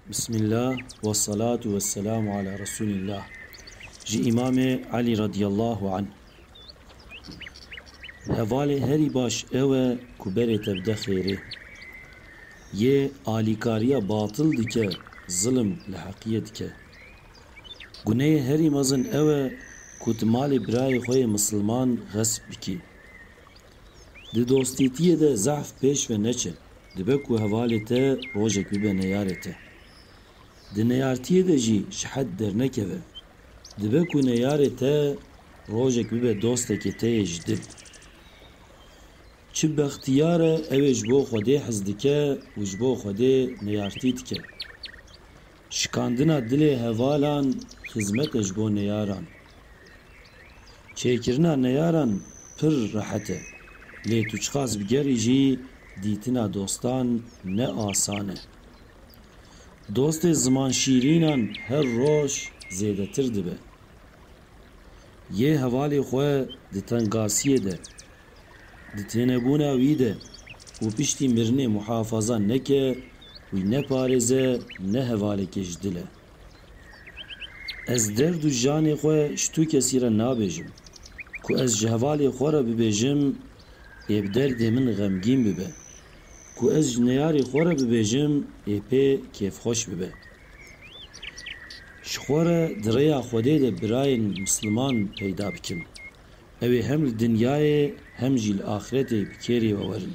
Bismillah wessalatu wesselamu ala Resûlillah Ji Îmamê Elî radîyallahu anh Hevalê herî baş ew e ku berê te bide xêrê. Yê alîkariya batil dike, zilim li heqiyê dike. Guneyê herî mezin ew e ku tu malê birayê xwe yê misilman xesp bikî. Di dostîtiyê de zehf pêş ve neçe, dibe ku hevalê te rojek bibe neyarê te. Di neyartiyê de jî şihet dernekeve, dibe ku neyarê te rojek bibe dostekê te yê ji dil. Çi bextiyar e ew ê ji bo Xwedê hez dike û ji bo Xwedê neyartî dike. Şikandina dilê hevalan xizmete ji bo neyaran. Çêkirina neyaran pir rehet e. Lê tu çiqas bigerî jî dîtina dostan ne asan e. Dostê zimanşîrînan her roj zêdetir dibe. Yê hevalê xwe di tengasiyê de Di tênebûna wî de û piştî mirinê muhafaza neke, wî ne parêze ne hevaleke ji dil e. Ez derd û janê xwe ji tu kesî re nabêjim. Ku ez ji hevalê xwe re bibêjim, ê bi derdê min xemgîn bibe. Ku ez ji neyarê xwe re bibêjim, ê pê kêfxweş bibe. Ji xwe re di rêya Xwedê de birayên misliman peyda bikin. Ew ê hem li dinyayê hem jî li axretê bi kêrê we werin.